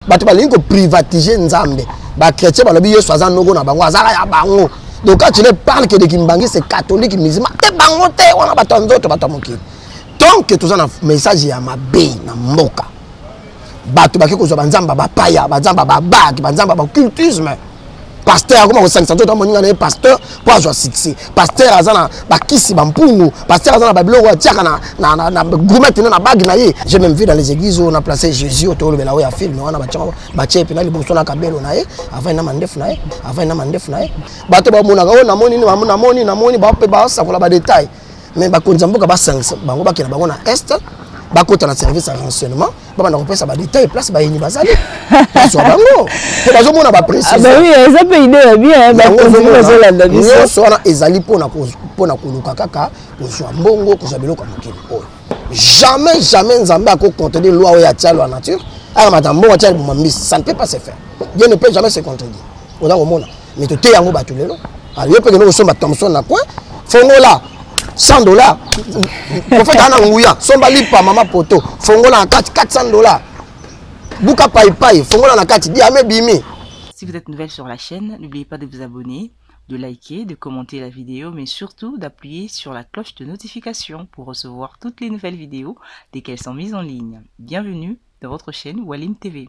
bato balingi koprivatige nzambe bachrétien balobi yesu aza noko na bango azala ya bango donc quand tu ne parle que de kimbangiste catholique musulman te bango te wana bato ya nzoto bato ya mokili tant que toza na message ya mabe na mboka bato bake kozwa banzambe bapaya banzambe babaki banzambe bacultisme pasteur akoma kosangisa nzoto amoninga na ye pasteur mpo azwa succès pasteur aza na bakisi bampungu pasteur aza na babiloko atiaka na grumete na na bage na ye je même vu dans les églises oyo na place jésus oyo tolobela oyo ya filme wana batye epe na liboso na kabelo na ye avai na mandefu na ye avai na mandefu na ye bato bamonaka oyo namoni namoni namoni basakola badetail mais bakonzi ya mboka basangisa bango bakela bango na est bakota na service ya renseignement babanda kopesa badetail place bayini bazali bazwa bango mpe bazomona bapresinyonso wana ezali mpona koluka kaka kozwa mbongo kozwa biloko ya mokili oyo jamais jamais nzambe akocontredi loi oyo atia loi nature akamata mbongo atia libuma mbisi ça ne peut pas se faire dieu ne peut jamais se contredire oza komona mais toteya yango bato lelo ah, yo mpe kende kosomba thomson na coin fongola 100 dollars profete aa na nguya somba lipa mama poto fongola na kati 400 dollars buka paipai fongola na kati diame bimi Si vous êtes nouvelle sur la chaîne, n'oubliez pas de vous abonner, de liker, de commenter la vidéo, mais surtout d'appuyer sur la cloche de notification pour recevoir toutes les nouvelles vidéos dès qu'elles sont mises en ligne. Bienvenue dans votre chaîne Walim TV.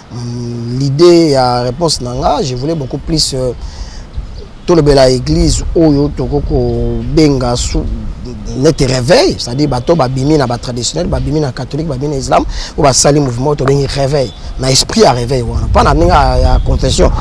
Mm, l'idée ya réponse na nga, je voulais beaucoup plus euh, tolobela église oyo tokoki kobenga neti réveil c'est-à-dire bato babimi na batraditionnel babimi na catholique babimi na islam oyo basali mouvement tobengi réveil na esprit ya réveil wana mpo na ndenge ya confession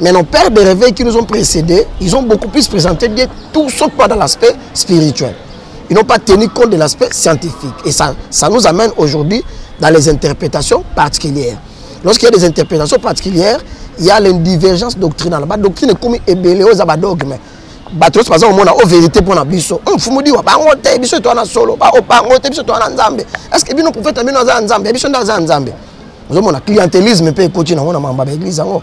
Mais nos pères de réveil qui nous ont précédés, ils ont beaucoup plus présenté Dieu, tout sauf pas dans l'aspect spirituel. Ils n'ont pas tenu compte de l'aspect scientifique. Et ça, ça nous amène aujourd'hui dans les interprétations particulières. Lorsqu'il y a des interprétations particulières, il y a une divergence doctrinale. La doctrine est comme ébélé aux abadogmes. bato nyonso baza komona o verité mpo na biso o mfumu diwa bango te biso eto wana solo bango te biso eto wana nzambe estce bino profete ya bino aza ya nzambe ya biso nde aza ya nzambe ozomona clientelisme mpe ekoti nango na mamba baeglise yango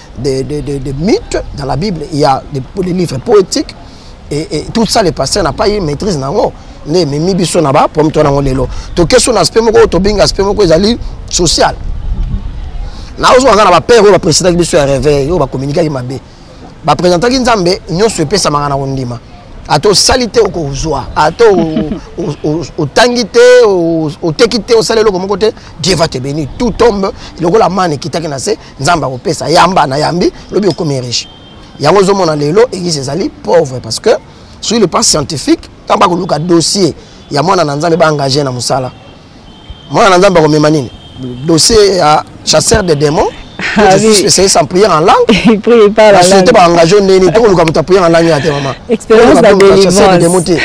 des, des, des, des mythes dans la Bible, il y a des, les livres poétiques, et, et tout ça, les pasteurs n'ont pas eu maîtrise. Non. nde ememi biso na bapomi to nango lelo toke so na aspect moko oyo tobenga aspect moko ezali social naozwa nga na bapere oyo bapresidaki biso ya réveil oyo bakominikaki mabe bapresentaki nzambe nyonso epesamaka na kondima ata osali te okozwa ata otangi te oteki te osali eloko moko te dieu va te bénir tout tombe lokola mane ekitaki na se nzambe akopesa yamba na yambi lobi okomi riche yango ozomona lelo église ezali pauvre parce que sur le plan scientifique ntango bakoluka dossier ya mwana na nzambe baengage na mosala mwana na nzambe akomema nini dossier ya chasseur de démon ah spécialiste en prière en langue société baengage o ndeni tokoluka moto ya prière en langue ya te mama chasseur de démon te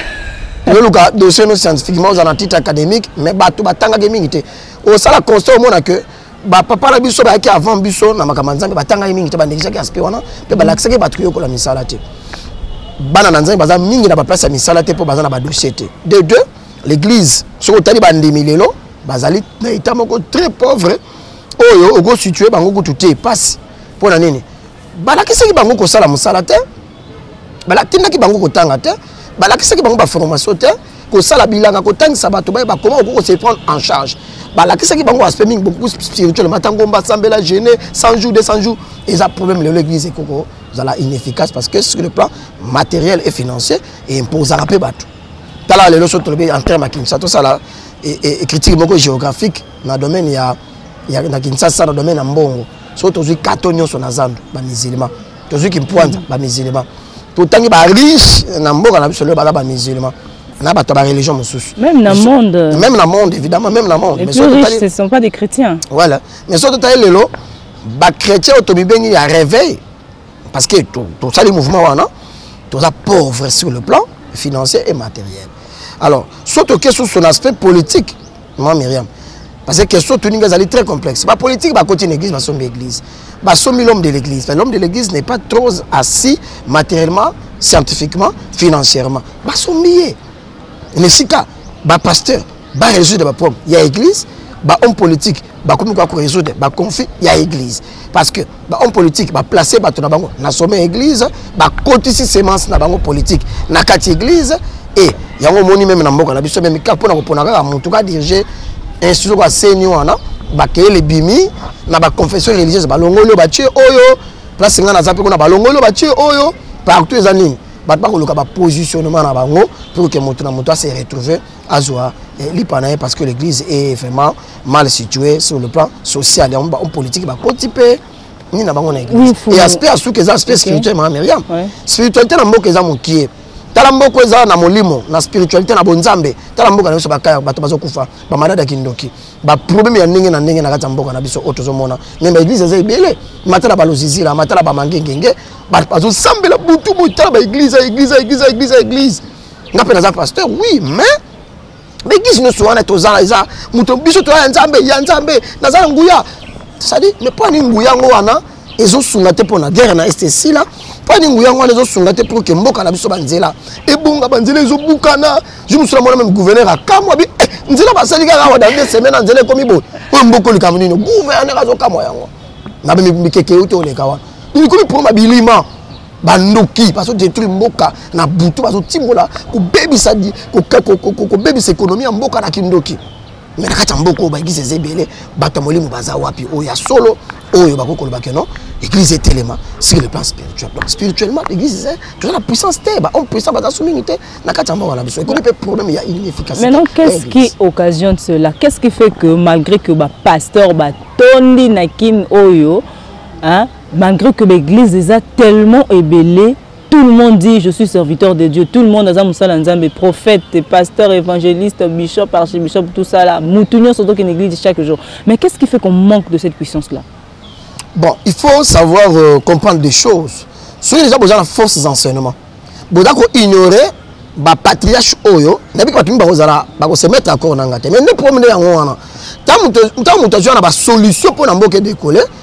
yoluka dossier no scientifiquement oza na titre académique mais bato batangaki mingi te osala constat omona que bapapa na biso bayaki avant biso na makambo ya nzambe batangaki mingi te bandekisaki aspect wana mpe balakisaki bato koyokola misala te bana na nzambe baza mingi na baplace ya misala te mpo baza na badossier te de deux l'église soki otali bandimi lelo bazali na etat moko très pauvre oyo okositue bango kutu te mpasi mpo na nini balakisaki bango kosala mosala te balakindaki bango kotanga te balakisaki bango baformation te kosala bilanga kotangisa bato baye bakoma okoki kose prendre en charge balakisaki bango aspect mingi beaucoup spirituel matangomba sambela gene 100 jours 200 jours eza problème lelo église ekoko zala inefficace parce que sur le plan matériel et financier eimposaka mpe bato tala lelo so tolobi en terme ya kinshasa tosala e, e, e, critique moko géographique na domaine ya, ya na kinshasa na domaine ya mbongo so tozwi kato nyonso na zando bamisilima tozwi kimpuanza bamisilema totangi bariche na mboka na biso lelo baza bamisilema na bato ya bareligion mosusu même na monde même na monde évidemment même na monde ce sont pas des chrétiens voilà mais soki totali lelo bachrétien oyo tomibengi ya réveil parce que tosali mouvement wana toza pauvre sur le plan financier et matériel alors soki toke susu na aspect politique maman miriam parce que question otuni nga ezali très complexe bapolitike bakoti na église basombi église basombi l'homme de l'église l'homme de l'église n'est pas trop assis matériellement scientifiquement financièrement basombi ye na esika bapasteur barésoudre baproblème ya église bahomme politique bakomi koya korésoudre baconflit ya église parce que bahomme politique baplace bato na bango na sommet ya église bakotisi semence na bango politique na kati ya église e yango omoni meme na mboka na biso meme kaka mpo na kopona kaka motu ka dirige institut kaka seni wana bakeyele ebimi na baconfession religieuse balongoli oyo batie oyo place ngai naza mpe kuna balongoli oyo batie oyo partout eza nini bato bakoluka bapositionnement na bango pour ke moto na moto ase retrouve azwa eh, lipa na ye parce que l'église est vraiment mal situé sur le plan social yango bahomme politique bakoti mpe nini na bango na église e aspect ya suka eza aspect spirituel mama miriam spiritualité na mboka eza mokie tala mboka eza na molimo na spiritualité na bonzambe tala mboka na biso bakaya bato bazokufa bamalade ya kindoki baproblème ya ndenge na ndenge na kati ya mboka na biso oyo tozomona me baeglise eza ebele matala balozizila matala bamangengenge bato bazosambela butu boye tala baeglise eglise eglise eglise eglise nga mpe naza pasteur oui mais baeglise nyonso wana tozala eza moto biso toya ya nzambe ya nzambe naza na nguya sadi mais mpo ani nguya yango wana ezosunga te mpo na guerre na este esila mpo ani nguya yango wana ezosunga te mpo ke mboka na biso banzela ebonga banzela ezobukana ju mosusu na mwana meme gouverneur akamwa bi eh, nzela basali kaka awa dande semaine na nzela ekomi boye oyo mboko likambo nini gouverneur azokamwa yango na mikeke euti oleka wana ekomi mpo mabilima bandoki bazo détruire mboka na butu bazo timbola kobebisa kobebisa ekonomi ya mboka na kindoki me na kati ya mboka oyo baeglise eza ebele bato ya molimo baza wapi oyo ya solo oyo bakoki koloba ke non église etelema sur le plan spirituel donc spirituellement l'église eza toza na puissance te bahomme puissant baza so mingi te na kati ya mboka na biso ekomi mpe problème ya inefficacité maintenant qu'est-ce qui occasionne cela qu'est-ce qui fait que malgré que bapasteur batondi na kin oyo hein? malgré que l'église eza tellement ebele tout le monde dit je suis serviteur de dieu tout le monde aza mosala nzambe prophète pasteur évangéliste bishop archibishop tout ça là mutu nyonso tokende église chaque jour mais qu'est ce qui fait qu'on manque de cette puissance là bon il faut savoir euh, comprendre des choses soki deja boza na forces enseignement boza koignore bapatriarche oyo nayebi bato mingi bakozala bakosemetre accord na ngai te mais nde problème nde yango wana ntango moto azwa na basolution mpo na mboka edekole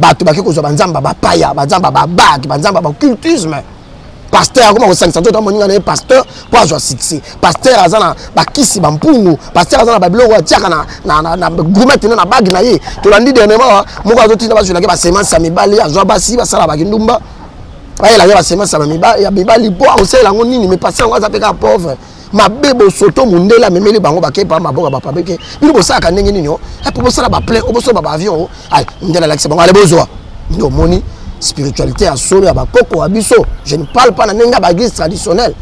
bato bake kozwa banzamba bapaya banzamba babaki banzamba bacultisme pasteur akoma kosangisa nzoto amoninga na ye pasteur mpo azwa succès pasteur aza na bakisi bampungu pasteur aza na babiloko atiaka na grumete na na bage na ye tolandi dernièrement moko azotinda bazwelaki basemence ya mibali azwa basi basala bakindumba bayelaki basemence ya mibali mpo akosalela yango nini mais pasteur yango aza mpe kaka pauvre mabe bosoto mundele amemeli bango bakei pa maboka bapabeke bino bosalaka ndenge nini o eh, po bosala baplein o bosomba baavion o ay mundele alakisa bango ale bozwa nde omoni spiritualité ya solo ya bakoko ya biso je ne parle pas na ndenge ya baeglise traditionnelle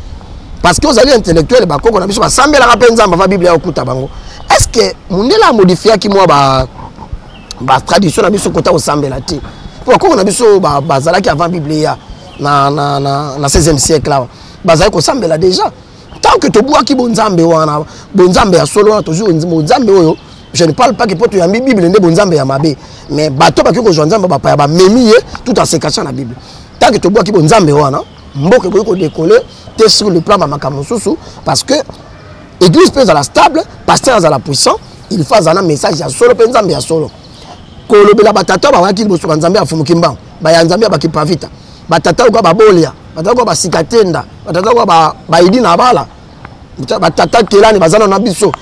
parce que ozali intellectuel bakoko na biso basambelaka mpe nzambe ava biblia ya okuta bango est ce que mundele amodifiaki mwa ba ba tradition na biso kota kosambela te mpo bakoko na biso bazalaki avant biblia na, na, na, na 16e siècle awa bazali kosambela deja tant que tobwaki bonzambe wana bonzambe ya solo wana tozwi bonzambe oyo je ne parle pas que mpo toyambi bible nde bonzambe ya mabe mais bato bakoki kozwa nzambe bapaya bamemi ye tout en se cachant na bible tant que tobwaki bonzambe wana mboka ekoki kodekole te sur le plan bamakambo mosusu parce que église mpe ezala stable pasteur azala puissant il faut azala na message ya solo mpe nzambe ya solo kolobela batata bawaki liboso banzambe ya fumuki mbango baya nzambe ya bakipavita batata oka babolia batata oka basika tenda batata oka bayidi na bala batata kelani baza na biso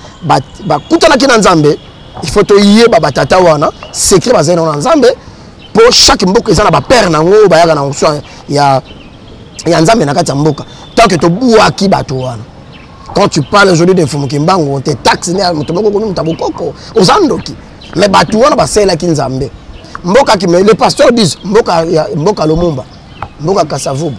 bakutanaki na nzambe il faut toyeba batata wana secret bazali nango na nzambe mpo chaque mboka eza na bapere nango oyo bayaka na nso ya, ya nzambe na kati ya mboka tanke tobwaki bato wana quand tu parles aujourd'hui de mfumu kimbangu te taxe ne moto moko komi moto ya bokoko oza ndoki mais bato wana basalelaki nzambe mboka kima le pasteur dis mboka, ya, mboka lomumba mboka kasavubu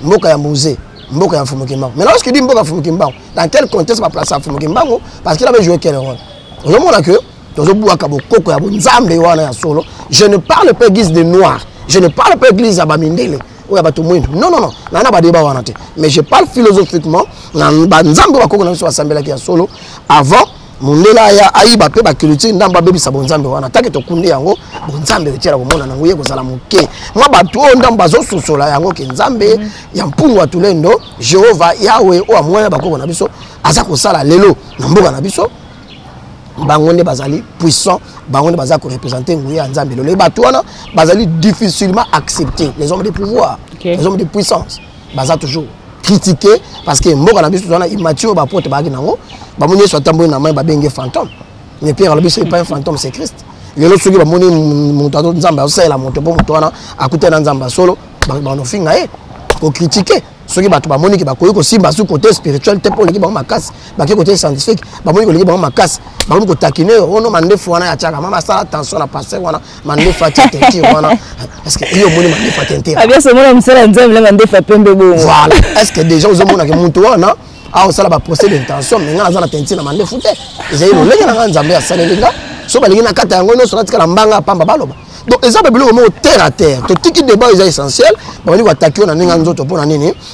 mboka ya muze mboka ya mfumu kimbangu mais lorsque dit mboka ya mfumu kimbangu dans quel contexte baplace ya mfumu kimbangu parce qu'il avait joué quel rôle ozomona que tozobwaka bokoko ya bonzambe wana ya solo je ne parle pas église de noir je ne parle pas église ya bamindele oyo ya bato mwindu non non non naa na badeba wana te mais je parle philosophiquement na banzambe bakoko na biso basambelaki ya solo avant mundele aya ayiba mpe baculture ndambo abebisa bonzambe wana take tokundi yango bonzambe otyela komona nango ye kozala moke mwa bato oyo ndambo bazososola yango ke nzambe mm -hmm. ya mpungu atulendo jehova yawe oyo amwana bakoko na biso aza kosala lelo na mboka na biso bango nde bazali puissant bango nde baza korepresente nguya ya nzambe lelo bato wana bazali difficilement accepte les hommes de pouvoir okay. les hommes de puissance baza toujours critiquer parce que mboka na biso tozana immature ba pote baaki nango bamoni yesu atamboli na mai babenge fantôme mais pierre alobi soki epai fantôme c'est christ lelo soki bamoni moto azo nzambe azosalela moto mpo moto wana akutani na nzambe ya solo banofinga ye kokritike soki bato bamoni ke bakoki kosimba su kote spirituel te mpo oleki bango makasi bake kote scientifique bamoni koleki bango makasi bakomi kotakine yo ono mandefu wana ya tiaka mama asala tension na paster wana mandefa tia teinture wana parce que yo omoni mandefa teinture abia somona mosala ya nzambe na mandefa pembe bongo voilà est ce que déjà ozomonake moto wana aosala baprocès d'intention me ngai naza na teinture na mandefu te ezali lolenge na ngai nzambe asaleli nga so balingi nakata yango nyonso natikala mbanga pamba baloba donc eza mpe biloko moko terre à terre totiki débat eza essentiel babandi koatake yo na ndenge ya nzoto mpo na nini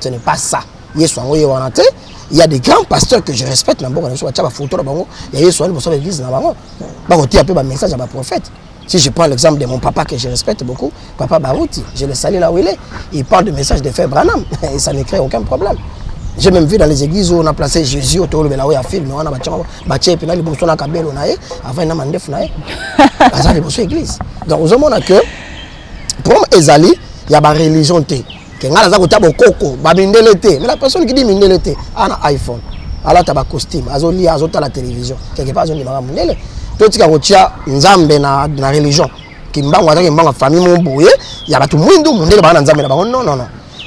ce n'est pas ça yesu yango ye wana te il y a des grands pasteurs que je respecte na mboka na biso batya bafoto na bango ya yesu wana liboso na église na bango bakotia mpe bamessage ya baprophète Si je prends l'exemple de mon papa que je respecte beaucoup, papa Barouti, je le salue là où il est, il parle de message de Frère Branham et ça ne crée aucun problème. J'ai même vu dans les églises où on a placé Jésus au tolo belawe à film, on a battu battu et puis là les bosso na kabelo na ye, avant il a mandé fna ye. Azali bosso église. Donc aux hommes on a que pour ezali il y a ba religion ke ngai naza kotya bokoko bamindele te mais la personne qui dit mindele te ana iphone alata bacostume azolia azotala télévision quelque part azondimaka mindele totika kotya nzambe na, na religion kimbangu aza kimbangu ya famille mo boye ya bato mwindu mondele baa na nzambe na bango nonono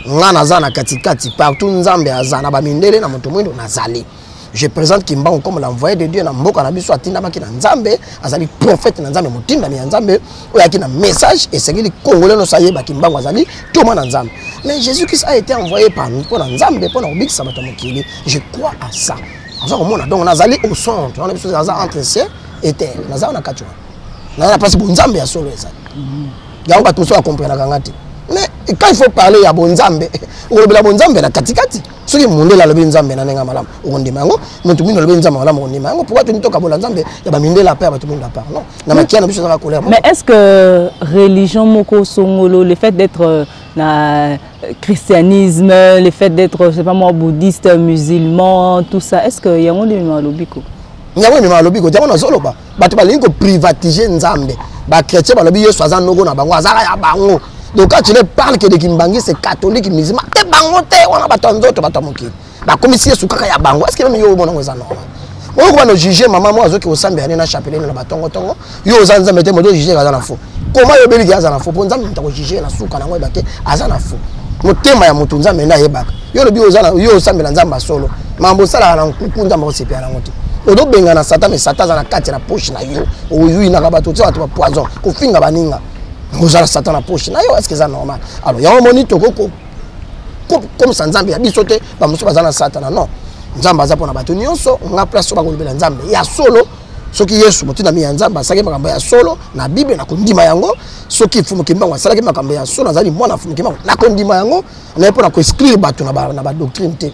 ngai naza na katikati partout nzambe aza na bamindele na moto mwindu nazali je présente kimbangu comme l'envoyé de dieu na mboka na biso atindamaki na nzambe azali prophète na nzambe motindami ya nzambe oyo ayaki na message esengeli congolais nyonso ayeba kimbangu azali toma na nzambe mais jésus christ a été envoyé par mpo na nzambe mpo na kobikisa bato ya mokili je crois à ça aza komona donc nazali au centre wana biso aza entre ciel et terre naza wana kati wana naza na place bonzambe ya solo ezali mhm. yango bato mosusu bakomprenaka nga te mais quand il faut parler ya bonzambe olobela bonzambe na katikati soki mundele alobi nzambe na ndenge ya malamu okondima yango moto mwindu alobi nzambe malamu okondima yango pourkoi toni tokabola nzambe ya bamindele apa ya bato mwindu apart non na makia na biso ezaka kolera mais est ce que religion moko songolo le fait d'être euh, na euh, christianisme le fait d'être je sais pas moi bouddhiste musulman tout ça est ce que yango nde mema alobi ko yango mema alobi ko yango nazoloba bato balingi koprivatise nzambe bachrétien balobi yesu aza noko na bango azaka ya bango donc quand tu ne parle que de kimbangiste catholique musulman te bango te wana bato ya nzoto bato ya mokili bakomisi yesu kaka ya bango eske meme yo omonango eza normal oyo kobana ojuge mama moko azoki kosambela ne na chapelet na batongotongo yo oza nzambe te moto ojuge aza na fo koma yo obeliki aza na fo mpo nzambe moto akojuge na suka nango yeba te aza na fo motema ya moto nzambe nde ayebaka yo olobi yo osambela nzambe ya solo mambo osalaka na nkuku nzambe akosepela nango te ozo bengana satan mais satan aza na kati na poche na yo oyuinaka bato otia bato bapoison kofinga baninga ozala satan na poche na yo eske eza normal alors yango omoni toko komisa nzambe ya biso te bamosusu baza na satana non nzambe aza mpona bato nyonso nga place oyo bakolobela nzambe ya solo soki yesu motindami ya nzambe asalaki makambo ya solo na bible nakondima yango soki fumukimbango asalaki makambo ya solo azali mwana fumukimbango nakondima yango naye mpo na koexclure bato na badoctrine te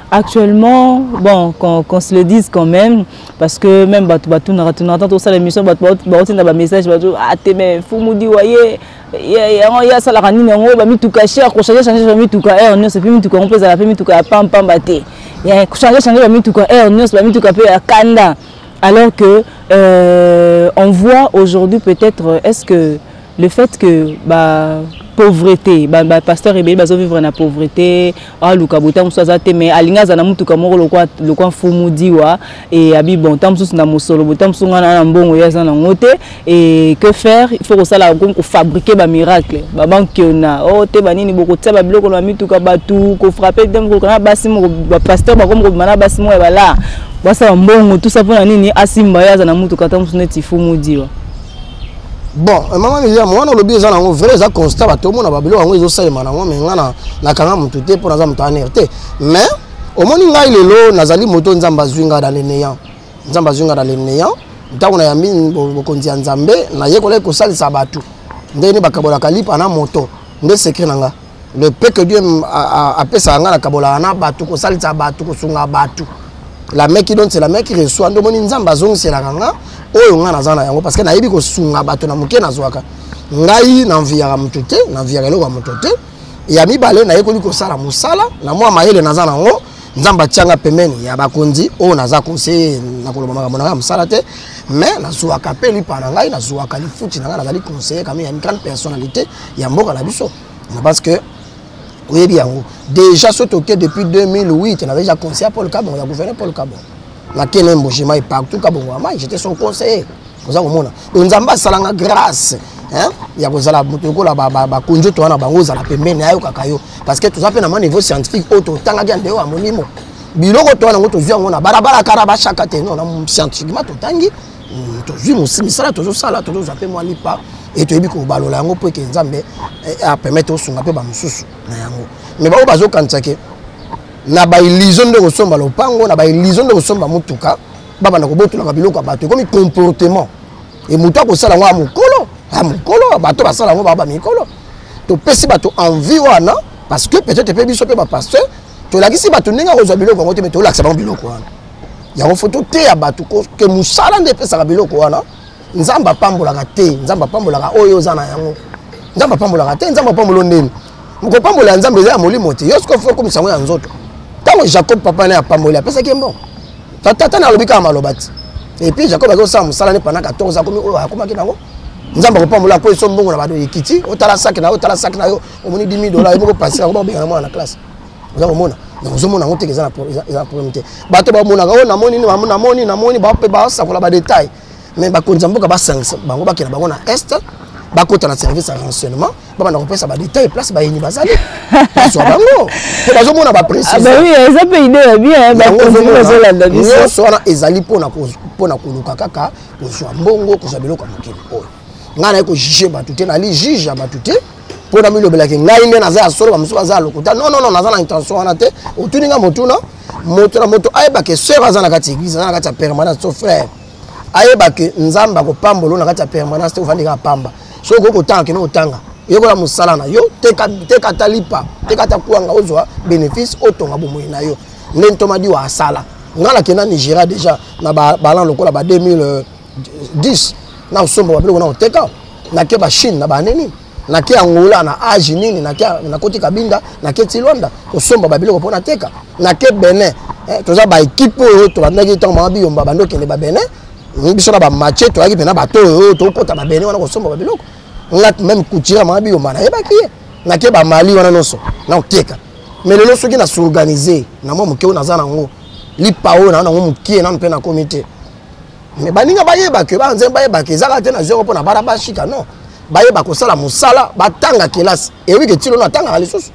Actuellement, bon, qu'on qu se le dise quand même, parce que même Batou Batou n'a raté notre ça l'émission, Batou Batou Batou n'a pas message, Batou, ah t'es mais fou moudi, voyez, yango ya asalaka nini yango bamituka cher kochange change bamituka heure nyonso epe mituka yango mpe ezala mpe mituka ya pampamba te kochange change bamituka heure nyonso bamituka mpe ya kanda alors que euh, on voit aujourd'hui peut-être est-ce que le fait que ba pauvreté ba, ba pasteur ebele bazo vivre na pauvreté aluka boye ntango mosusu aza te mais alingi aza na motuka moko lokwa lokwa mfumu diwa e abi bon ntango mosusu na mosolo boye ntango mosusu ngai na mbongo ye aza nango te e que faire il faut kosala komi kofabrike bamiracle babankiona o oh, te banini bokotia babiloko na mituka bato kofrape te mokoluka na basi moko bapasteur bakomi kobima na basi moko ya balaa basala mbongo tusa mpo na nini asimba ye aza na motuka ntango mosusu neti fumu diwa bon eh, mama miriam wana olobi eza nango vrai eza constat bato omona babiloko yango ezosalema nango mai ngai nakanga motu te mpo naza moto aner te mais omoni ngai lelo nazali moto nzambe azwi ngai na le néant nzambe azwi ngai na le néant ntango nayambi bokonzi ya nzambe nayekolaki kosalisa bato ndenge nde bakabolaka lipa na moto nde sekre na ngai le peu que dieu apesaka ngai nakabolaka na bato kosalisa bato kosunga bato la main qui donne c'est la main qui reçoit nde omoni nzambe azongiselaka nga oyo ngai naza na yango parce que nayebi kosunga bato na moke nazwaka ngai nanviyaka moto te nanviyaka eloko ya moto te ya mibale nayekoli kosala mosala na mwa mayele naza nango nzambe atianga pembeni ya bakonzi oyo naza conseiller nakoloba makambo na ngai ya mosala te mais nazwaka mpe lipa na ngai nazwaka lifuti na ngai nazali conseiller kami ya une grande personnalité ya mboka na biso Je pense que oyebi yango déjà soki toke depuis 2008 nazali ja conseiller ya paul kabongo ya gouverneur paul kabongo nake na embogema ye partout kabongo amai j'étais son conseiller oza komona donc nzambe asalanga grâce ya kozala moto lokola bakonjoto wana bango ozala pembeni ayokaka yo parce que toza mpe na mwa niveau scientifique oyo totangaki ya ndeo ya molimo biloko to wana yango tozwi yango na balabala kara bashaka te non na scientifiquement totangi hmm, tozwi misala tozosala tozozwa mpe mwa lipa e toyebi kobalola yango mpo eke nzambe eh, eh, apermettre osunga mpe bamosusu na yango me baoyo bazokanisa ke na bailizio nde kosomba lopango na bailizio nde kosomba motuka babanda kobotolaka biloko ya bato ekomi comportement e moto akosala yango ya mokolo ya mokolo bato basala yango baa bamikolo topesi bato envie wana parce que peut-être mpe biso mpe bapasteur tolakisi bato ndenge akozwa biloko yango te me tolakisa bango biloko wana yango fo toteya bato ke mosala nde epesaka biloko wana nzambe apambolaka te nzambe apambolaka oyo oza na yango nzambe apambolaka te nzambe apambolo ndeni mokopambola ya nzambe eza ya molimo te yo soki ofo okomisa yango ya nzoto ntango jacob papa naye apamboli apesaki ye mbongo tata na alobi kaka maloba te epuis jacob akoki kosala mosala ne pana 14 akomi oyo akomaki nango nzambe akopambola akwei so mbongo na bato ekiti otala saki na yo otala saki na yo omoni 10 dola yo moko pasi yango bakobengana mwana na classe oza komona ozomona yango teke eza na problème te bato bamonaka oyo oh, namoni namoni namoni bape basakola badetail mais bakonzi ya mboka basangisa bango bakela bango na est bakota na service ya renseignement babanda kopesa badetail place bayini bazali bazwa bango mpo bazomona bapresinyonso wana ezali mpo na koluka kaka kozwa mbongo kozwa biloko ya mokili oyo ngai naye kojuge bato te nali juge ya bato te mpo namilobelaki ngai nde naza ya solo bamosusu baza ya lokuta non non non naza na intention wana te otuni ngai motuna moto na moto ayeba ke sœur aza na kati ya église aza na kati ya permanence to frère ayeba ke nzambe akopambolo na kati ya permanence te ofandi kaka pamba soki okoki kotanga kende otanga yekola mosala na yo teka ata lipa teka ata kwanga ozwa bénéfice otonga bomoi na yo nde ntomadiwa asala ngai nakenda nigeria déjà na balan lokola ba 2000 10 na kosomba babiloko na koteka nake bachine na banini nake angola na age nini nakoti kabinda nake tilwanda kosomba babiloko mpo nateka nake benin eh, toza baekipe oyo tobandaki ntango mama biyomba bandi okende babenin biso na bamache toyaki mpena bato oyo tokota babenin wana kosomba babiloko nga meme kutira mama biyomba nayebaki ye nake bamali wana nyonso na koteka mais lelo soki na s'organize na mwa moke oyo naza nango lipa oyo naa nango mokie nano mpe nakomi te mais baninga bayeba ke bana nzembo bayeba ke ezaka te na zero mpo na bana bashika non bayeba kosala mosala batanga kelasi eyebi ke tilo no atangaka lisusu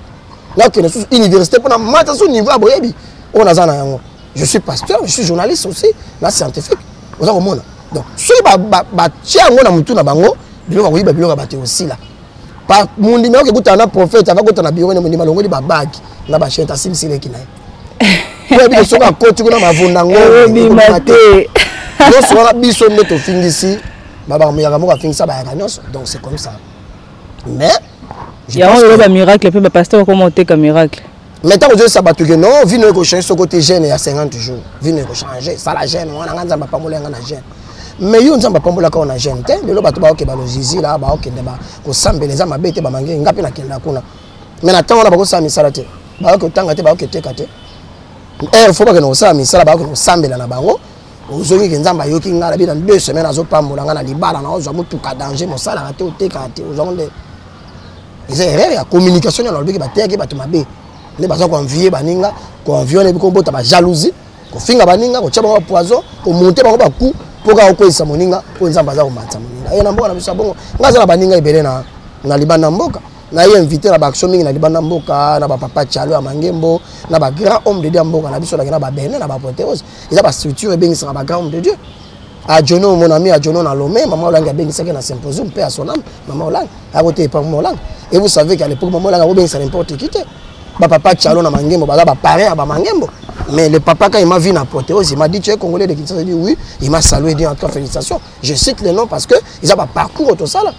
nakende lisusu université mpo na mata so niveau ya boyebi oyo naza na yango je suis pasteur je suis journaliste aussi na scientifique oza komona donc soki batie yango na motu na bango biloko ya koyiba biloko ya bato ekosila par mondimi akoki kutana na prophète ava kota na bureau ne mondimi alongoli babagi na bachete asimbisi leki na ye oyebi soki akoti kuna mavunda ngobima te nyonso wana biso nde tofingisi babakamuyaka moko afingisa bayaka nyonso donc c'est comme ça mais yango oyo bamiracle mpe bapaster bakoma oteka miracle mais ntango ozolisa bato ke non vino ekochange soko te gene ya 50 jours vino ekochange sala gene wana ngai nzambe apambola yanga na gene mais yo nzambe apambolaka yo na gene te lelo bato baoke balozizila baokende kosambela eza mabe te bamange ngai mpe nakenda kuna mais na ntango wana bakosala misala te baoke otanga te baoke teka te heure eh, fo bakende kosala misala baoke kosambela na bango ozongi ke nzambe ayoki ngai na bino na deux semaine azopambola ngai na libala na ozwa motuka danger mosalaka te otekaka te ozwango nde eza erreur ya communication nde alobaki bateyaki bato mabe nde baza koenvie baninga koenvie wana ebi kobota bajalousie kofinga baninga kotya bango bapoison komonte bango baku mpo kaka okweyisa moninga mpo nzambe aza komatisa moninga ye na mboka na biso ya bongo ngai aza na baninga ebele na, na libanda mboka naye invité na baaction mingi na libanda mboka na bapapa calo ya mangembo na bagrand homme de dieu ya mboka na biso nake na babene na bapoteose eza bastructure ebengisaka bagrand homme de dieu Adjono mon ami Adjono na Lomé, maman Olangi abengisaki na symposium pe à son âme, maman Olangi akote epa maman Olangi. Et vous savez qu'à l'époque maman Olangi akobengisa n'importe qui te. Ba papa Chalo na Mangembo baza ba parents ya ba Mangembo. Mais le papa quand il m'a vu na Proteose, il m'a dit tu es congolais de Kinshasa, il dit oui, il m'a salué dit en tout cas félicitations. Je cite les noms parce que ils ont ba parcours tout ça là.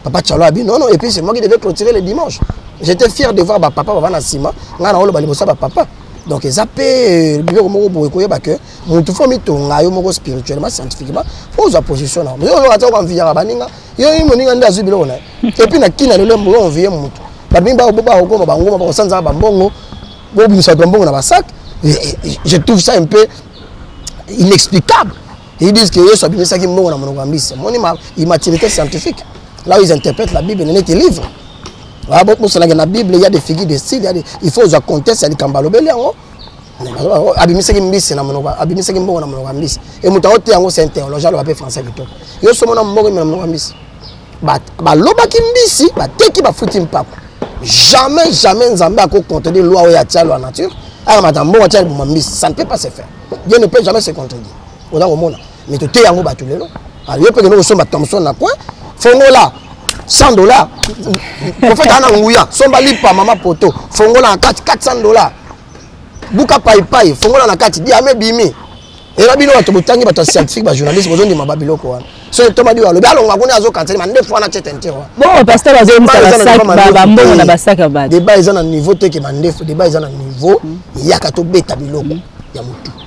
Papa Chalo a dit non non et puis c'est moi qui devais clôturer le dimanche. J'étais fier de voir ba papa baba na sima, nga na olo ba libosa ba papa. Donc ils appellent euh, biloko moko boye koyeba que mutu fo mitonga yo moko spirituellement scientifiquement po ozwa position na yo oyoka toko anviyaka baninga yo ye moninga nde azwi biloko na ye epuis na kina lelo mbo onviye mutu bato mingi bakokoma bangoma bakosanzaka bambongo bobimisa bato bambongo na basak je trouve ça un peu inexplicable ils disent que yesu abimisaki mbongo na monoko ya mbisi moni ma immaturité scientifique là où ils interprètent la bible nenete livre bosalaki na bible ya de figure de style il faut ozwa contexte ya likambo alobeli yango abimisaki mbisi na monoko abimisaki mbongo na monoko ya mbisi e moto aote yango c'est un théologie aloba mpe français kitoko yo somona mbongo ime na monoko ya mbisi balobaki mbisi bateki bafuti mpako jamais jamais nzambe akocontredire loi oyo atia loi nature akamata mbongo atia liboma mbisi ça ne peut pas se faire dieu ne peut jamais se contredire oza komona mais toteya yango bato lelo ah, yo mpe kende kosomba thomson na coin fongola 100 dollars profete aa na nguya somba lipa mama poto fongola na kati 400 dollars buka paipai fongola na kati diame bimi ela bino bato botangi bato ya scientifique bajournaliste bozondima babiloko wana soki tomadi oyo alobi alonga kuna azokanseli mande fo wana cete ntiro deba eza na niveau te ke mandefu deba eza na niveau eyaka tobeta biloko ya motu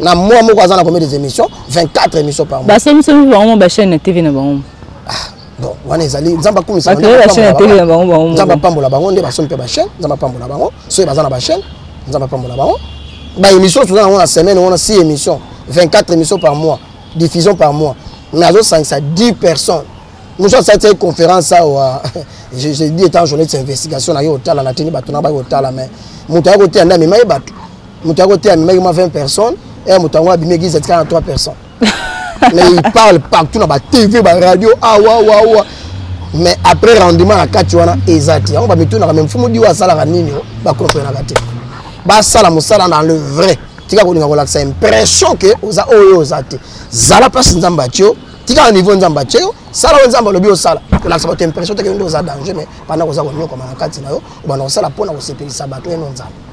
na mois moko aza na combien des émissions 24 émissions par mois basongisongi bango bachaîne na tv na bango ah, bon wana ezali nzambe akumisanzambe apambola bango nde basomi mpe bachaîne nzambe apambola bango soki baza na bachaîne nzambe apambola bango baémission toza nango na semaine wana 6 émission 24 émission par mois diffusion par mois mais azosangisa 10 personnes mosu asati ye conférence awa je dis étant journée de investigation na ye otala natini bato na baye otala mais moto aye koteya nde amema ye bato moto ya kote amemaki mwa 20 personnes e moto yango abimi eglise atika na 3 personnes mais il parle partout na batv baradio awawawa ah, mais après rendement na kati wana eza te yango bamitunaka me mfumu diwa asalaka nini bakomprenaka te basala mosala na le vrai tika kolinga kolakisa impression ke oza oyo oza te zala mpasi nzambe atio tika na niveau nzambe atye yo sala oyo nzambe alobi osala kolakisa bato impression teke nde oza danger mais banda koza konyokama na kati na yo obanda kosala mpo na kosepelisa bato eno nzambe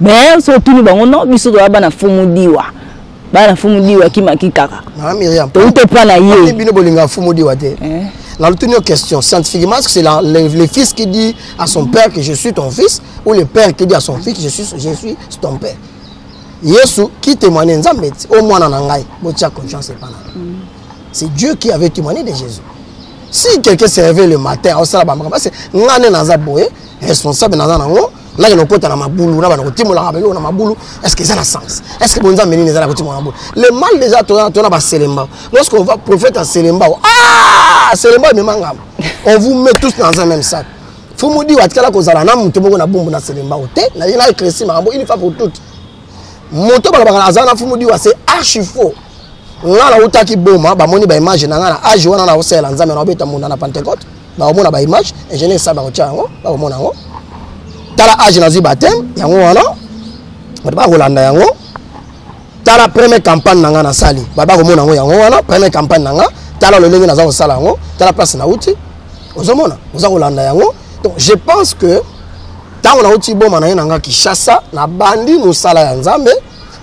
mais so otuni bango no biso toza bana fumudiwa bana fumudiwa kimaki kaka touta epa na ye bino bolinga fumudiwa te eh. na lotuni yo question scientifiquement est ce que c'est le, le fils qui dit à son père que je suis ton fils ou le père qui dit à son fils que je suis, je suis ton père yesu qui témoigne nzambe ti o mwana na ngai botia confiance epa na mm. c'est dieu qui avait témoigné de jésus si quelqu'un se réveille le matin aosala bamakambo parce que ngai nde naza boye responsable naza nango nake nakota na mabulu na bana kotimolaka biloko na mabulu est-ce que eza na sens est-ce que bonzambe nini eza na kotimola mabulu le mal déjà toza tona baselembao lorsque on va prophète ya selembao ah selembao emema ngambo on vous met tous dans un même sac fumudi watikala kozala na moto moko na bumbu na selembao te na ye na eklesi makambo une fois pour toute moto balobaka azala na fumudi wa se archi faux ngai nautaki boma bamoni baimage na ngai na age wana nakosalela nzambe na obeta munda na pentecote bakomona ba image ingénieur sa bakotia yango bakomona yango tala age nazwi bateme yango wana bato bakolanda yango tala première campagne na ngai nasali bato bakomona yango yango wana première campagne na ngai tala lolenge naza kosala yango tala place nauti ozomona oza kolanda yango donc je pense que ntango nauti boma na ye na ngai kinshasa nabandi mosala ya nzambe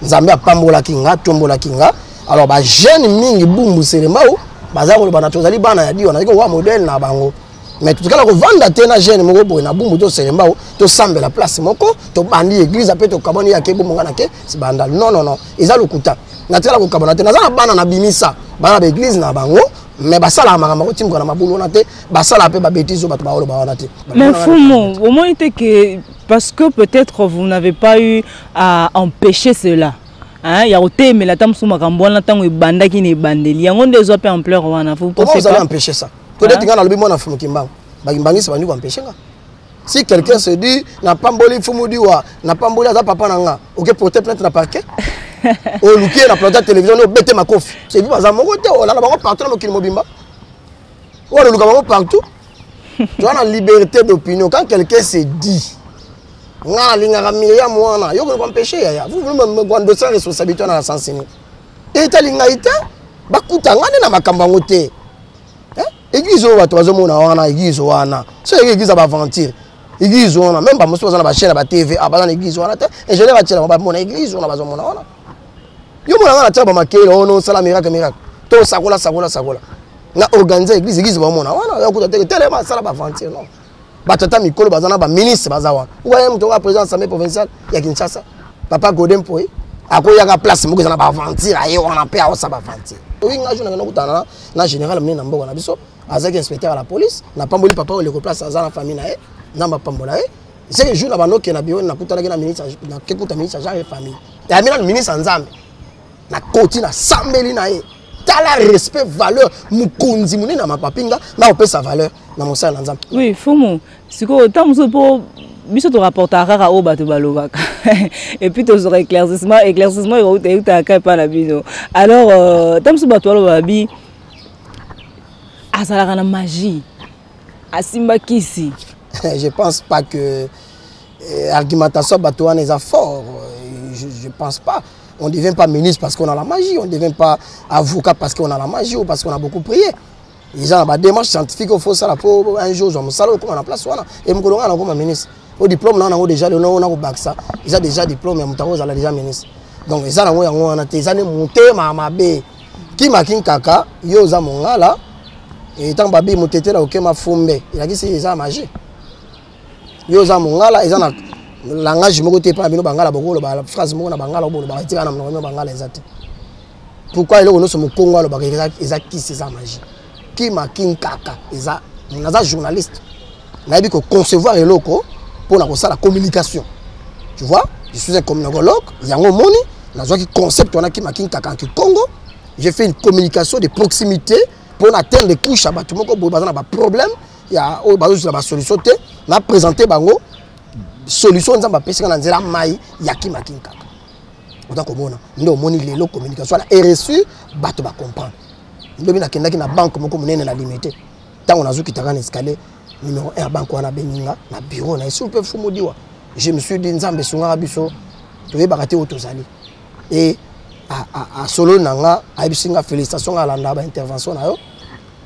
nzambe apambolaki nga atombolaki nga alors ba jeune mingi bumbu serembao baza koloba na tozali bana ya diwa nazali kokoka modele na bango mais totikala kovanda te na jeune moko boye na bumbu to serembao tosambela place moko tobandi église mpe tokabwani yake bomonga na ke sibandal non non non eza lokuta natikala kokabana te naza na bana na bimisa bana na baeglise na bango mais basalaka makambo akotimuka na mabulu wana te basalaka mpe babetise oyo bato baoloba wana te mais fumu omoni te ke parce que peut-être vous n'avez pas eu à empêcher cela hein, ya kotelemela ata mosusu makambo wana ntango ebandaki na ebandeli yango nde ezwa mpe ampleur wana ozali empêche ça todeti ngai nalobi mwana fulu kimbangu bakimbangisi bandi koempêche nga si quelqu'un se dit napamboli mfumu diwa napamboli aza papa na nga oke porte plainte na parquet oluki ye na plante ya télévision nde obete makofi sebi baza moko te olala bango partout na mokili mobimba oyo aloluka bango partout tu as la liberté d'opinion quand quelqu'un se dit nga nalingaka miriam wana yo koleka mpeshe yaya vous voulez me grandosa responsabilité wana na sensi nini etali ngai te bakuta ngai nde na makambo yango te eh? eglise oyo bato bazomona wana eglise wana so yeke eglise ya baaventure eglise wana meme bamosusu baza na bachaine ya batv ah, baza na eglise wana te ingénieur atielaka bamona eglise wana bazomona wana yo mona nga natyaka bamakele ono oh osala miracle miracle to sakola sakola sakola na organise église église bamona wana oh yakuta teke telema asala baventure non bato ata mikolo baza na baministre baza wana okoya moto okoya président assemblée provinciale ya kinshasa papa gode mpoye akoyaka place moko eza na baventure aye wana mpe aosa baventure oyi nga jo nanga nakutana na général monene na mboka na biso azalaki inspecteur ya la police napamboli papa oyo leko place aza na famille na ye nzambe apambola ye C'est le jour na bando ke na bureau na kuta na ministre na ke kuta ministre genre et famille. Ya mina ministre Nzambe. Na koti na sambeli na ye. Tala respect valeur mukonzi mune na mapapinga na opesa valeur na mosala na Nzambe. Oui, fumu. Siko tamu so po biso to rapporta kaka oyo bato balobaka et puis tozwaka éclaircissement éclaircissement ekouta eutaka kai epai na bino alors euh, ntango mosusu bato balobaka bi azalaka na magie asimba kisi je pense pas que eh, argumentation bato wana eza fort euh, je, je pense pas on ne devient pas ministre parce qu'on a la magie on ne devient pas avocat parce qu'on a la magie ou parce qu'on a beaucoup prié eza na badémarche scientifique oyo fosala mpo un jour ozwa mosala okóma na place wana e mokolo ngai nakóma ministre o diplôme na yango déjà lelo na kobakisa eza déjà diplôme ya moto yango ozala déjà ministre donc eza nango yango wana te eza nde motema mabe kima kinkaka yo oza mongala ntango eh, babi motetela okema fumbe elakisi eza magie yo oza mongala eza na langage moko te epai bino bangala bokoloba phrase moko na bangala obolobaka etikala na monoko bino bangala eza te pourquoi eloko nyonso mokongo alobaka eza kisi eza magie kima kinkaka eza naza journaliste nayebi koconcevoir eloko mpo na kosala communication tu vois je suis un communicologue yango omoni nazwaki concept wana kima kinkaka en kikongo j'ai fait une communication de proximité mpo na atteindre de couche ya bato moko boye baza na baproblème ya oyo bazozela basolution te na présente bango solution nzambe apesaka na nzela mai ya kima kinkaka oza komona nde omoni lelo communication wana ereussi bato bacomprendre lobi nakendaki na banke moko monene na limete ntango nazokitaka na escalier numero 1 ya banke wana abengi nga na bureau na esu mpe fumudiwa je me suis dit nzambe esungaka biso toyebaka te oyo tozali e asolo na nga ayebisi nga félicitation nga alanda baintervention na yo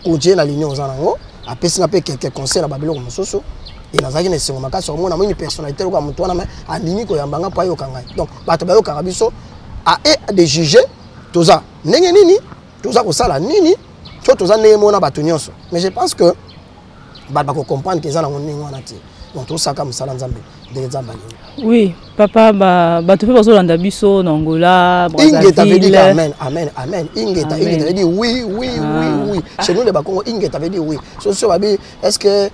continue na ligne oza nango apesi nga mpe quelques conseil na babiloko mosusu e nazalaki na esengo makasi omona moni personnalité lokola moto wana mai andimi koyamba nga mpo ayoka ngai donc bato bayokaka biso a e de juger toza ndenge nini toza kosala nini to toza ndenge moko na bato nyonso mais je pense que bato bakocomprendre ke eza nango ndenge wana te donc tosaka mosala nzambe ndenge nzambe alingi oui papa bato mpe bazolanda biso na angola ingeta veut dire amen amen amen ingeta ingeta veut dire oui oui ah. oui oui ah. chez nous les bakongo ingeta veut dire oui so so babi est ce que eh,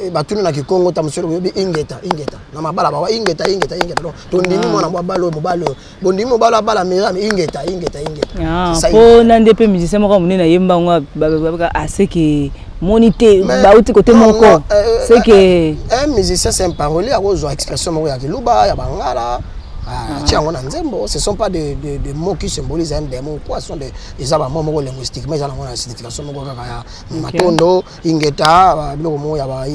eh, batuni na kikongo ta mosolo boyebi ingeta ingeta na mabala bawa ingeta ingeta ingeta donc tondimi ah. mwana mwa balo mobali oyo bondimi mobala abala miriam ingeta ingeta ingetapo ah, na nde mpe musicien moko monene ayemba yango babaka aseke ah, moni te bauti kote moko euh, euh, seke euh, musicien c'est un paroli akozwa expression moko ya kiluba ya bangala ah, atia yango na nzembo ce sont pas des de, de mots qui symbolise un démon quoi sont de eza bamo moko linguistiquement eza nango na signification moko kaka ya matondo ingeta biloko moko ya ba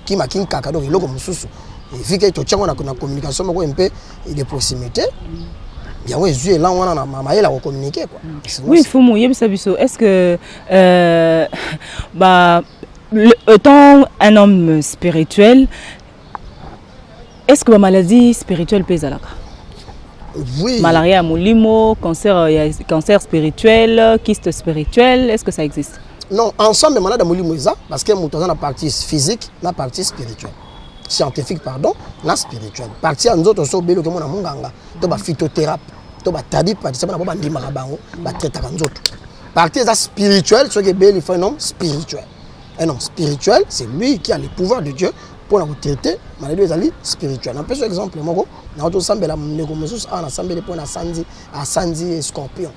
kima kinkaka donc eloko mosusu vike totiango na communication moko mpe et de proximité yango ezwi elan wana na mayele ya kocommunike kua oui fumu yebisa biso est ce que euh, ba étant un homme spirituel est ce que bamaladie spirituelle mpe ezalaka oui. malaria ya molimo cancer, euh, cancer spirituel kiste spirituel est ce que ça existe non ensemble malade ya molimo eza parce que moto aza na partie physique na partie spirituelle scientifique pardon na spirituel parti ya nzoto so obeli okemona monganga to baphytothérapie to batabi patisa bana bo bandimaka bango batraitaka nzoto parti eza spirituel soki ebeli faut un homme spirituel un homme spirituel c'est lui qui a le pouvoir de dieu mpo na kotraite maladi ezali spirituel napesi exemple moko nao tosambela ndeko mosusu awa nasambeli mpo na sanzi asanzi scorpion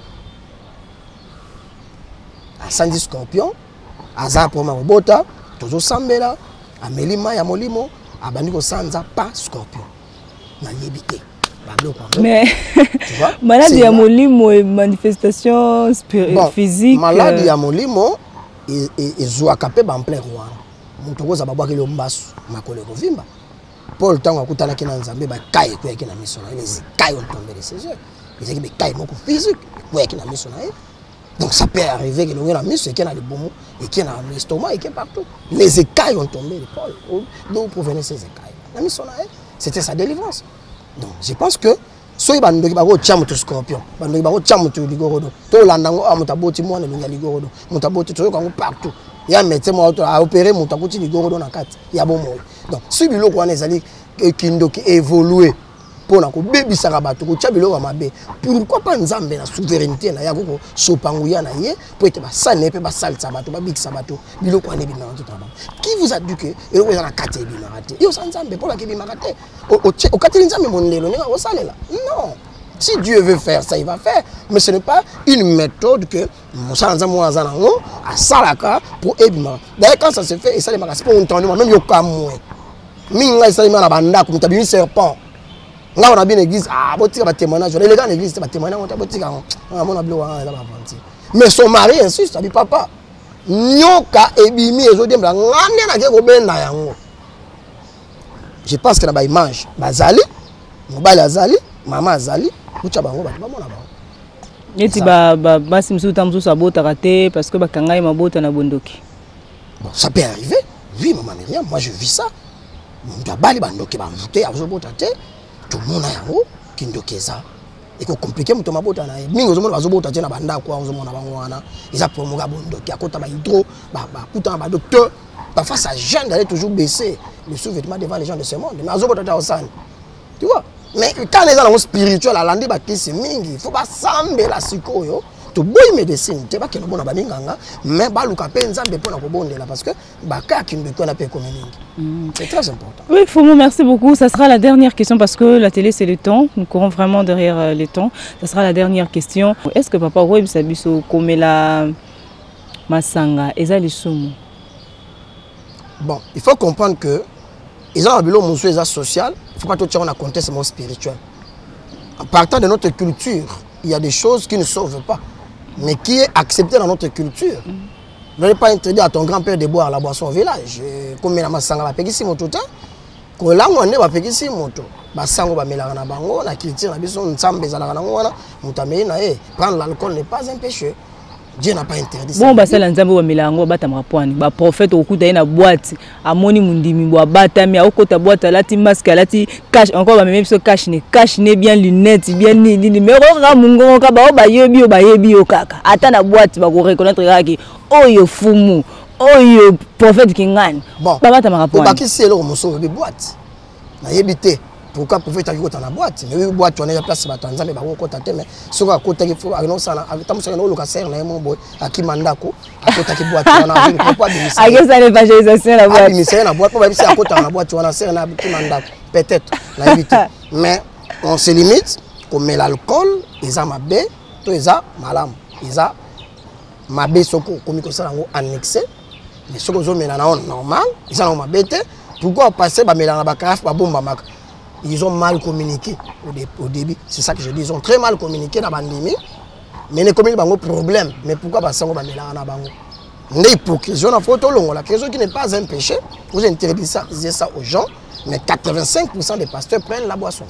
asanzi scorpion aza akoma kobota tozosambela ameli mai ya molimo abandi kosanza pa scorpion nayebi te mais maladi ya molimo e manifestation bon, physique maladi euh. ya molimo e, e, ezwaka mpe bamplere wana moto okozwa babwakeli yo mbasu makolo ekovimba paul ntango akutanaki na nzambe bakai ekweyaki na miso na ye les kai ontombele ses yeux ezalaki bekai moko physique ekweyaki na miso na ye Donc ça peut arriver que l'on a mis ce qui est dans le bon et qui est dans l'estomac et qui est partout. Les écailles ont tombé de Paul. Oh, d'où provenaient ces écailles La mis son arrêt, c'était sa délivrance. Donc je pense que soki bandoki bakotya moto scorpion bandoki bakotya moto ligorodo tolanda yango a moto aboti mwana elongi ya ligorodo moto aboti toyoka yango partout ya médecin moko to aopere moto akuti ligorodo na kati ya bomoi donc soki biloko wana ezali kindoki évolue mpo na kobebisaka bato kotya biloko ya mabe pourkui mpa nzambe na souveraineté na ye akoki kosopa nguya na ye mpo ete basali na ye mpe basalisa bato babikisa bato biloko wana ebimaka nzoto na bango ki vous adu ke eloko eza na kati ya ebimaka te yo osa nzambe mpo olaka ebimaka te okateli nzambe mondelo ndenge akosalela non Si Dieu veut faire ça, il va faire. Mais ce n'est pas une méthode que mosala nzambe wana aza nango asalaka mpo ebimaka daye quand ça se fait esalemaka sipo ontendema meme yokamwe mingi ngai esalemaka na bandako moto abimi serpent ngai wana bino église ah, botika batémoignage wana eleka na église te batémoignage yango te botika yango amona bilo wana eza bavanti mais son mari insiste abi papa nyoka ebimi ezodiembela ngai nde nake kobenda yango je pense que na ba image bazali mobali azali mama azali kutya bango bato bamona bango neti basi mosusu ntango mosusu abotaka te parce que bakanga ye mabota na bondoki bon ça peut arriver oui mama miriam moi je vis ça moto abali bandoki bamute azobota te tomona yango kindoki eza eko compliqué moto mabota na ye mingi ozomona bazobota te na bandako wana ozomona bango wana eza promoka ya bondoki akota bahydro bakutana badocteur parfois sa jeune d'aller toujours baisser le sous-vêtement devant les gens de ce monde mais azobota te aosani tu vois mais kana eza nango spirituel alandi bakisi mingi il faut basambela sikoyo toboyi médecine te bakende mpo na baminganga mais baluka mpe nzambe mpo na kobondela parce que bakaki mbeko wana mpe ekomi mingi mm. c'est très important oui fomo merci beaucoup ça sera la dernière question parce que la télé c'est le temps nous courons vraiment derrière euh, le temps ça sera la dernière question est ce que papa okoyebisa biso komela masanga eza lisumu bon il faut comprendre que eza na biloko mosusu eza social il faut pas totiango na contexte moko spirituel en partant de notre culture il y a des choses qui ne sauvent pas mais qui est accepté dans notre culture mm. n'allez pas interdire à ton grand père de boire la boisson au village euh, komela masanga bapekisi moto te kolangwa nde bapekisi moto basango bamelaka na bango na culture na biso nzambe ezalaka nango wana moto ameli na ye prendre l'alcool n'est pas un péché dieu n'a pas interdit bon basala nzambe bamela yango batamaka pwani baprofete okuta ye na bwati amoni mundimi bwa batami akokota bwata alati masque alati cash encore bamemi biso cash ne cash ne bien lunette bien nini nini me okokaka mongongo kaka bao bayebi yo bayebi yo kaka ata na bwati bakoreconnaitre kaka ke oyo fumu oyo prophète kingani bon, babatamaka po obakisi eloko mosusu oyebi bwati nayebi te pourquoi prophète ayaki kota na boîte yebi boîte wana ya place bato ya nzambe bakokota te mais soki akotaki anosala atamosaka naoluka sere na ye mo boye akima ndako akotaki boîte wana akesa na evangelisation na boîte abimisa ye na boîte mpo bayebisi akotaka na boîte wana sere na akima ndako peut-être nayebi te mais on se limite komela alcool eza mabe to eza malamu eza mabe soki okomi kosala yango annexe mais soki ozomela na yango normal eza nango mabe te pourquoi opasse bamela na bacarafe babombamaka ils ont mal communiqué au, dé, au début c'est ça que je dis ils ont très mal communiqué na bandimi mais nekomeli bango problème mais pourquoi basango bamelaka na bango nde hypocrisie wana fo tolongola que soki n'est pas un péché vous interdisez ça, ça aux gens mais 85 des pasteurs prennent la boisson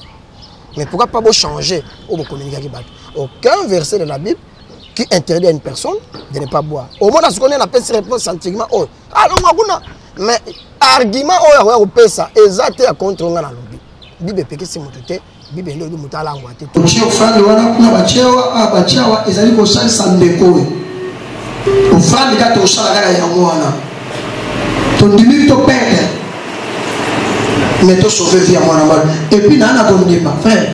mais pourquoi pas bochanger oyo bocommuniquaki bato aucun verset de la bible qui interdit à une personne de ne pas boire omona sikoyo nde napesi réponse sentiment oyo alonga ah, kuna mais argument oyo akoya kopesa eza te ya contre nga nalobi bible epekisi moto te bible nde oyebi moto alangwa te otie ofandi wana kuna batyewa ah, batyawa ezali kosalisa ndeko oyo ofandi kaka tosala kaka yango wana tondimi toperde mais tosauve vie ya mwana mwana epuis naa na kondima frère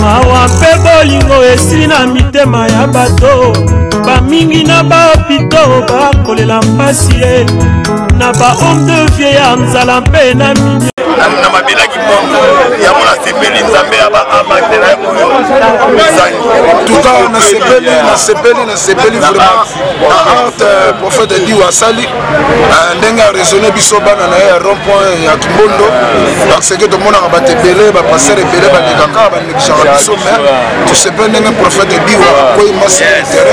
mawa mpe bolingo esili na mitema ya bato bamingi na bapito bakolela mpasi ye na bahome de vie ya nzala mpe na minyo na mabelaki bongo yango nasepeli nzambe ya baamate na oyo ezali tuka nasepeli nasepeli nasepeli vraiment na arte euh, prophète diwa asali Ah, ndenge aresone biso bana na ye ya rond point ya kimbondo parce que tomonaka bato ebele bapastere ebele balekaka banekisaka biso me tosepeli ndenge prophète biwa akwei masi ya intere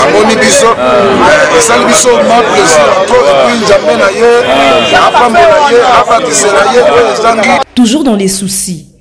amoni biso eh, esali biso ma plaisir to epuis nzambe na ye apambola ye abatisela ye oyo ezangi toujours dans les soucis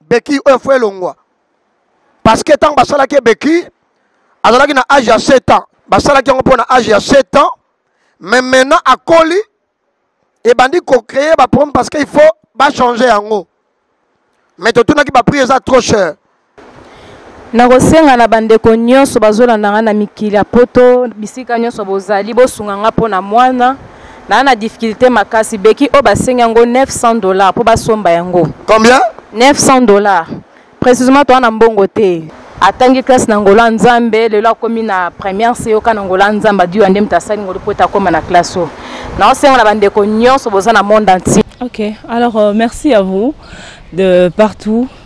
beki oyo fo elongwa parce que ntango basalaki ye beki azalaki na age ya 7 ans basalaki yango mpo na age ya 7 ans mais maintenant akoli ebandi kocreye baproblème parce que il faut bachange yango mais totunaki baprix eza trop cher Nakosenga na bandeko nyonso bazolanda ngai na mikili ya poto bisika nyonso bozali bosunga ngai mpo na mwana naa na difficulté makasi beki oyo basengi yango 900 dollars mpo basomba yango combien 900 dollars précisément toa na mbongo te atangi classe na ngola nzambe lelo akomi na première se yoka na ngola nzambe adiwa nde moto asali ngolu mpo ete akóma na classe oyo naosenga na bandeko nyonso boza na monde entier ok alors euh, merci à vous de partout